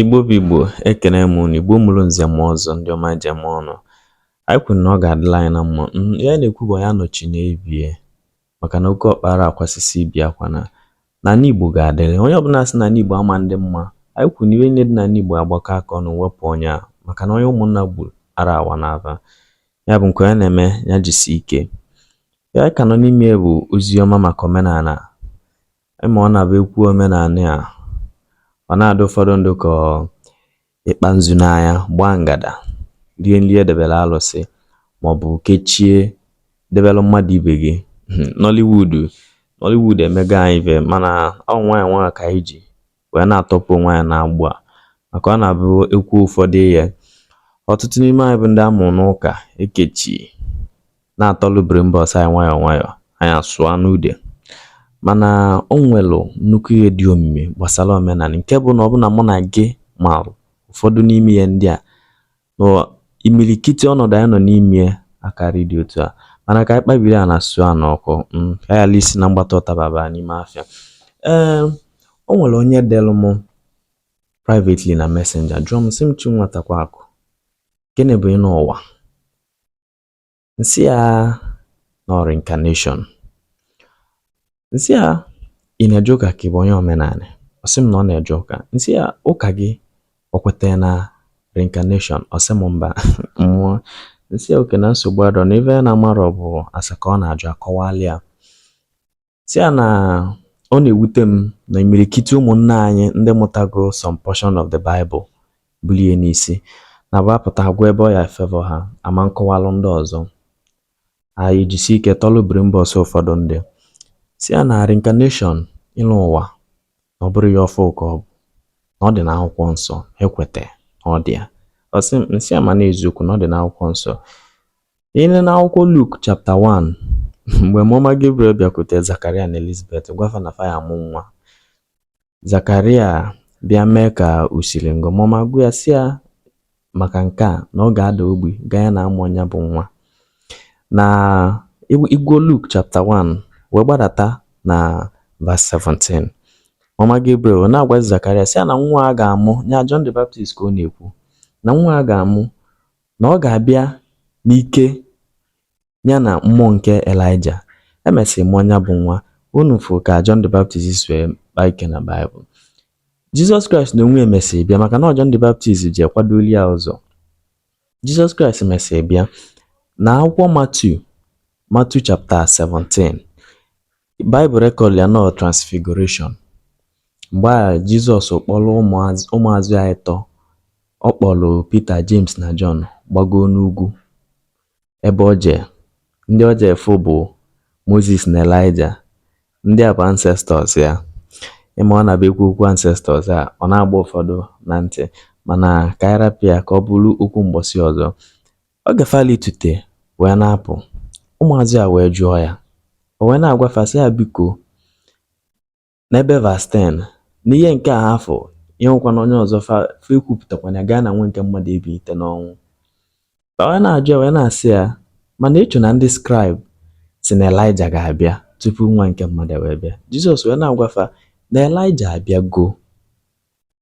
Igbo bụ Igbo, ekene m unu, Igbo mụrụ nze mụọ ọzọ, ndị ọma je m ọnụ. Anyị kwuru na ọ ga-adịlị anyị na mma. Mm, ihe a na-ekwu bụ ya nọchi n'ebie maka na oke ọkpa ara akwasị ibi akwa na ala Igbo ga-adịrị. Onye ọbụla sị na ala Igbo ama adị mma. Anyị kwuru na ife niile dị n'ala Igbo agbakọ aka ọnụ wepụ onye a maka na onye ụmụnna gburu ara awa n'afa. Ya bụ nke onye na-eme ya jisie ike. Ihe a ka nọ n'ime bụ ozi ọma maka omenala Ị ma ọ na-abụ e kwuo omenanị a, ọ na-adị ụfọdụ ndị ka ọ ịkpa nzu n'anya, gbaa ngada, rie nri e debere alụsị maọbụ kechie debere mmadụ ibe gị. Nollywood Nollywood emego anyị ife mana ọ nwayọọ nwayọọ ka anyị ji wee na-atọpụ onwe anyị n'agbụ a maka ọ na-abụ e kwuo ụfọdụ ihe ọtụtụ n'ime anyị bụ ndị a mụrụ n'ụka ekechi na-atọlụ brimbọs anyị nwayọọ nwayọọ anyị asụọ n'ude mana o nwelụ nnukwu ihe dị omimi gbasara omenanị nke bụ na ọ bụ na mụ na gị marụ ụfọdụ n'ime ihe ndị a na imilikiti ọnọdụ anyị nọ n'ime ya akarị dị otu a mana ka anyị kpabiri a na sụọ a n'ọkụ mm, ka anyị ala isi na mgbata ụtaba baa n'ime afịa ee o nwere onye delụ m privately na messenger jụọ m sị m chi nwatakwa akụ gịnị bụ ịnọ ụwa M sị a na ọ reincarnation. M sị a ị na-eje ụka ka ị bụ onye omenanị? Ọ sị m na ọ na-eje ụka. M sị a ụka gị o kwetara na reincarnation? Ọ sị m mba. Mmụ m sị a okay na nsogbu adịrọ na ife a na-amarọ ọ bụ ase ka a na-ajụ a kọwalị ya. sị ya na ọ na-ewute m na imirikiti ụmụnna anyị ndị mụtago some portion of the Bible bulie n'isi na-abụ a pụta agụa ebe ọ ya e-favour ha ama akọwalụ ndị ọzọ anyị jisie ike tọlụ biri mba ọsọ ụfọdụ ndị sị ya na reincarnation ịlọ ụwa na ọ bụrọ ihe ọfụụ ka ọ bụ na ọ dị n'akwụkwọ nsọ i kweta na ọ dị ya ọ sị m m sị a ma na eziokwu na ọ dị n'akwụkwọ nsọ I nee n'akwụkwọ Luk chapta 1 mgbe mmụọ ọma Gabriel bịakwute Zakaria na Elizabeth gwa fa na fa ya-amụ nwa Zakaria bịa mee ka o siri ngọ mmụọ ọma gwa ya sị ya maka nke a na ọ ga-ada ogbi ganye na a mụọ nya bụ nwa na ị gụọ Luk chapta 1 wee gbadata na vas 17 mmụọ ọma Gabriel na-agwazi Zakaria sị ya na nwa a ga-amụ ya John the Baptist ka ọ na-ekwu na nwa a ga-amụ na ọ ga-abịa n'ike ya na mmụọ nke Elaịja. E mesịrị mụọ nya bụ nwa. Unu fụrụ ka John the Baptist si wee kpaa ike na Baịbụl. Jizọs Kraịst na onwe ya mesịrị bịa maka na ọ John the Baptist je-akwadoli ya ụzọ. Jizọs Kraịst mesịrị bịa n'akwụkwọ Matiu Matiu chapta 17 Baịbụl rekọdụlụ ya n'ọ transfiguration mgbe a Jizọs kpọrọ ụmụazụ ya ịtọ ọ kpọrọ Pita James na Jọn gbagoo n'ugwu ebe ọ jee ndị ọ jee fụ bụ Moses na Elaịja ndị a bụ ancestors ya ị ma a na-aba ekwu okwu ancestors a ọ na-agba ụfọdụ na ntị mana ka anyị rapụ ya ka ọ bụrụ okwu mgbọsị ọzọ Oge fa litute wee na-apụ, ụmụazụ ya wee jụọ ya. O wee na-agwa fa sị ya, Biko, n'ebe verse 10, n'ihe nke a ha fụ, ya nwekwana onye ọzọ fa fa ekwupụtakwana ya gaa na nwa nke mmadụ ebilite n'ọnwụ. Fa wee na-ajụ ya wee na-asị ya, Mana ịchụ na ndị scribe sị na Elaịja ga-abịa tupu nwa nke mmadụ wee bịa. Jizọs wee na-agwa fa na Elaịja abịago.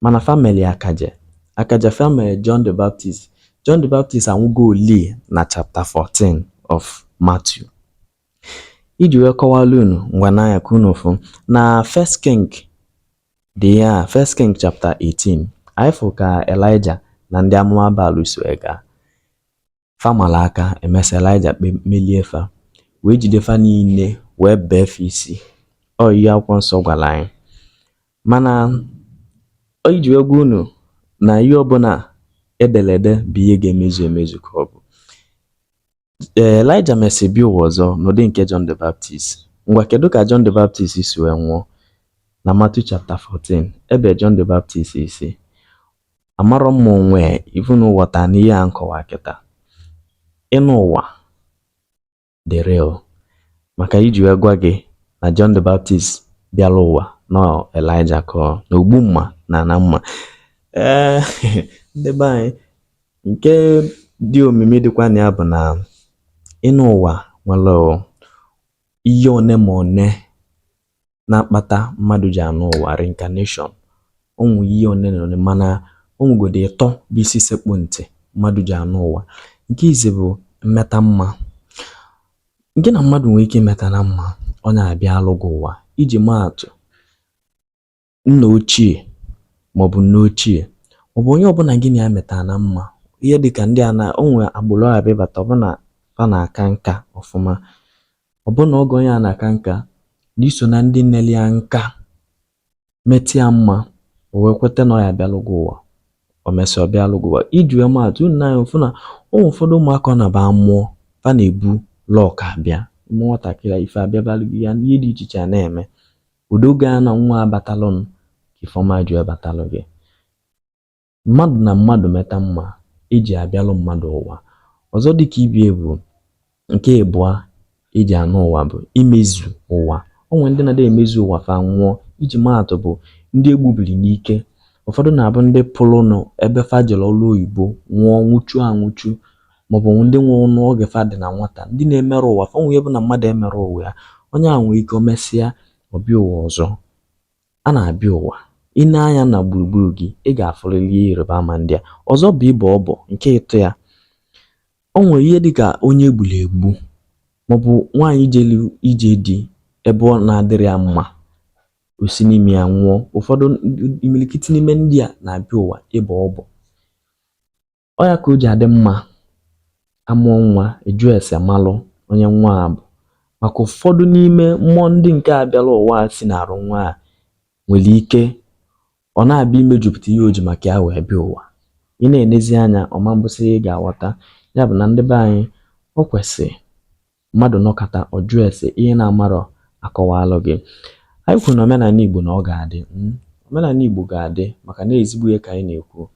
mana fa mere ya akaje akaje fa mere John the Baptist John the Baptist anwụgo ọ dị na chapter 14 of Matthew iji wee kọwara unu ngwa n'anya ka unu fụ na First King dị ya First King chapter 18 anyị fụ ka Elijah na ndị amụma Baal so gaa Fa mara aka, emesịa Elaịja emelie fa, wee jide fa niile wee bee fa isi. Ọ ihe akwụkwọ nsọ gwara anyị. Mana ọ iji wee gwa unu na ihe ọbụla e dere ede bụ ihe ga-emezu emezu ka ọ bụ. Ee, Elaịja mesịrị bịa ụwa ọzọ n'ụdị nke John the Baptist. Ngwa kedu ka John the Baptist si wee nwụọ? Na Matthew chapter 14, e bee John the Baptist isi amarọ m ma o nwee ihe unu ghọta n'ihe a m kọwa kịta ịnọ ụwa dị real maka iji wee gwa gị na John the Baptist bịara ụwa n'ọ Elijah ka ọ na ogbu mma na-ana mma ee ndị be anyị nke dị omimi dịkwa na ya bụ na ịnọ ụwa nwere ihe one ma one na-akpata mmadụ ji anọ ụwa reincarnation o nwe ihe one na one mana o nwegodu ịtọ bụ isi sekpụ ntị mmadụ ji anọ ụwa nke izizi bụ mmeta mma gị na mmadụ nwere ike imeta na mma ọ naa bịalụ gị ụwa iji maa atụ nna ochie maọbụ nne ochie ọ bụ onye ọbụla gị na ya metara na mma ihe dịka ndị a na o nwere agbụrụ a bịabata ọbụna fa na-aka nka ọfụma ọbụna oge onye a na-aka nka, na i so na ndị nele ya nka, meta ya mma, o wee kweta na ọ ya-abịalụ gị ụwa. O mesịa ọ bịalụ gị ụwa. Iji wee maa atụ, unu na-afụ na o nwere ụfọdụ ụmụaka a na-aba amụọ, fa na-ebu luck abịa. Ị mụọ nwatakịrị a, ife abịabalụ gị, ya ihe dị iche iche a na-eme. Ụdị oge a na nwa a batalụnụ ka ife ọma ji wee batalụ gị. Mmadụ na mmadụ meta mma, e ji abịalụ mmadụ ụwa. Ọzọ dị ka ibe ya bụ nke ịbụa e ji anọ ụwa bụ imezu ụwa. O nwere ndị na-adị emezu ụwa fa nwụọ. Iji maa atụ bụ ndị e gbubiri n'ike. Ụfọdụ na-abụ ndị pụrụnụ ebe fa jere ọrụ oyibo nwụọ nwụchuo anwụchu maọbụ ndị nwụrụnụ oge fa dị na nwata. Ndị na-emerọ ụwa fa. O nwere ihe bụ na mmadụ emerọ ụwa ya, onye ahụ nwere ike o mesịa ọ bịa ụwa ọzọ. a na-abịa ụwa i nee anya na gburugburu gị ị ga-afụrịrị ihe ịrịba ama ndị a ọzọ bụ ịbọ ọbọ nke ịtọ ya o nwere ihe dị ka onye e gburu egbu maọbụ nwaanyị jelu ije di ebe ọ na-adịrọ ya mma o si n'ime ya nwụọ ụfọdụ imirikiti n'ime ndị a na-abịa ụwa ịbọ ọbọ ọ ya ka o ji adị mma a mụọ nwa a jụọ ese malụ onye nwa a bụ maka ụfọdụ n'ime mmụọ ndị nke a bịara ụwa si n'arụ nwa a nwere ike ọ na-abịa imejupụta ihe o ji maka ya wee bịa ụwa ị na-enezi anya ọma mbụsị ị ga-aghọta ya bụ na ndị be anyị o kwesịrị mmadụ nọkata ọ jụọ ese ihe na-amarọ a kọwalụ gị anyị kwuru na omenala Igbo na ọ ga-adị hmm? omenala Igbo ga-adị maka na ezigbo ihe ka anyị na-ekwu